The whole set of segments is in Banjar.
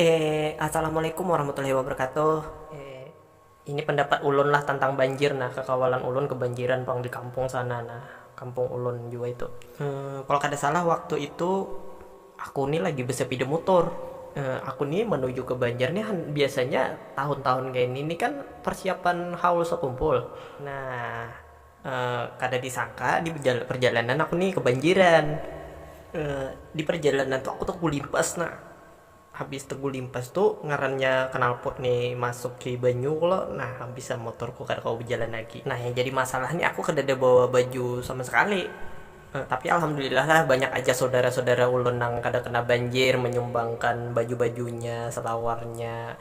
Eh Assalamualaikum warahmatullahi wabarakatuh eh ini pendapat ulun lah tentang banjir nah kekawalan ulun kebanjiran pang di kampung sana nah kampung ulun jua itu eh kalo kada salah waktu itu aku ni lagi besepida mutur eh aku ni menuju ke banjar ni biasanya tahun tahun kaya ini ni kan persiapan haul sekumpul nah. kada disangka di perjalanan aku ni kebanjiran, di perjalanan tu aku tegulimpas nah, habis tegulimpas tu ngarannya knalpot ni masuki banyu lo nah habis am motorku kada kawa bajalan lagi, nah yang jadi masalah ni aku kadada bawa baju sama sekali, tapi alhamdulillah lah banyak aja saudara saudara ulun nang kada kena banjir manyumbangkan baju bajunya, selawarnya.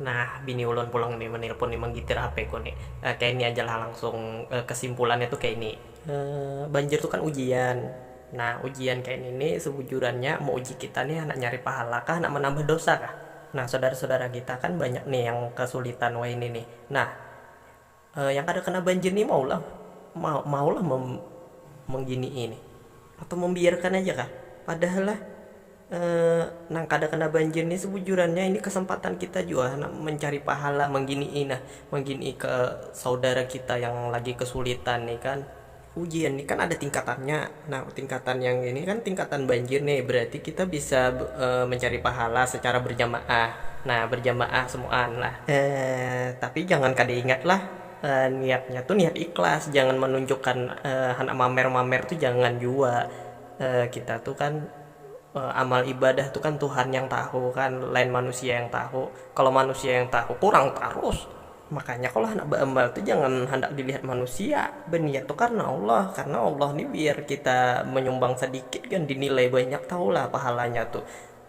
Nah, bini ulun pulang ni menelpon ni menggitir HP ku ni. Kaya ini aja lah langsung kesimpulannya tu kaya ini. Banjir tu kan ujian. Nah, ujian kaya ini ni sebujurannya meuji kita ni handak nyari pahala kah handak menambah dosa kah. Nah, saudara-saudara kita kan banyak ni yang kesulitan wayah ini ni. Nah, Yang kada kena banjir ni mau lah mau lah mengginii nih atau membiarkan aja kah padahal lah nang kada kena banjir nih sebujurannya ini kesempatan kita jua handak mencari pahala mengginii nah mengginii ke saudara kita yang lagi kesulitan nih kan. Hujan ni kan ada tingkatannya, nah tingkatan yang ini kan tingkatan banjir nih, berarti kita bisa mencari pahala secara berjamaah, nah berjamaah semuaan lah. Tapi jangan kada ingat lah niatnya tu niat ikhlas, jangan menunjukkan handak mamer-mamer tu jangan jua, kita tu kan amal ibadah tu kan tuhan yang tahu kan lain manusia yang tahu, kalo manusia yang tahu kurang tarus. Makanya kalo handak baamal tu jangan handak dilihat manusia, baniat tu karna Allah, karna Allah ni biar kita manyumbang sadikit gin dinilai banyak tahu lah pahalanya tu,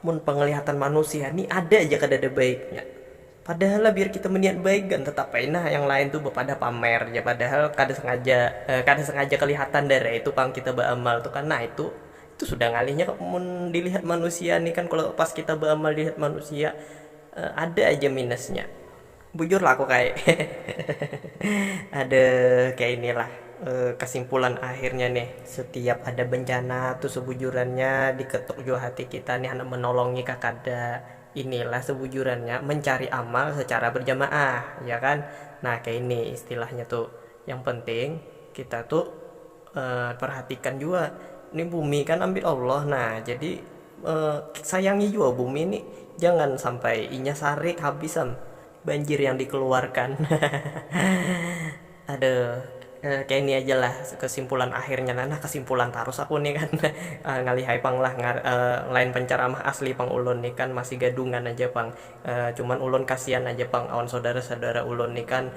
mun panglihatan manusia ni ada ja kadada baiknya, padahal lah biar kita maniat baik gin tetap ai nah yang lain tu bapadah pamer ja padahal kada sengaja kada sengaja kalihatan dari itu pang kita baamal tu kan, nah itu itu sudah ngalihnya mun dilihat manusia ni kan kalo pas kita baamal dilihat manusia ada aja minusnya. Bujur lah aku kaya ada kaya ini lah kesimpulan akhirnya nih setiap ada bencana tuh sebujurannya diketuk jua hati kita nih handak menolongi kah kada, inilah sebujurannya mencari amal secara berjamaah ya kan nah kaya ini istilahnya tuh yang penting kita tuh. Perhatikan jua ni bumi kan ambil Allah nah jadi sayangi jua bumi ni jangan sampai inya sarik habis am banjir yang dikeluarkan hahaha aduh kaya ini aja lah kesimpulan akhirnya nah nah kesimpulan tarus aku ni kan ngalihai pang lah lain penceramah asli pang ulun ni kan masih gadungan aja pang. Cuman ulun kasian aja pang awan saudara-saudara ulun ni kan,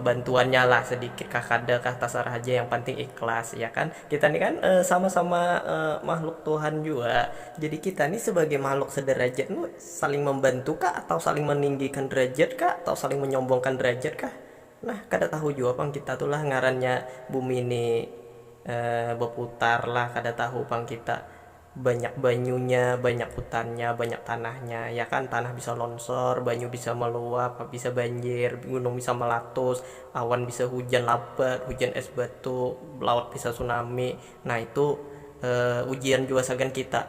bantuannya lah sedikit kah kada kah tasarah haja yang panting ikhlas ya kan, kita ni kan sama-sama makhluk Tuhan jua, jadi kita ni sebagai makhluk sederajat ni saling membantu kah atau saling meninggikan derajat kah atau saling menyombongkan derajat kah nah kada tahu jua pang kita tu lah ngarannya bumi ni berputar lah kada tahu pang kita Banyak banyunya, banyak hutannya, banyak tanahnya, ya kan, tanah bisa lonsor, banyu bisa meluap, bisa banjir, gunung bisa melatus, awan bisa hujan labat, hujan es batu, laut bisa tsunami, nah itu ujian jua sagan kita.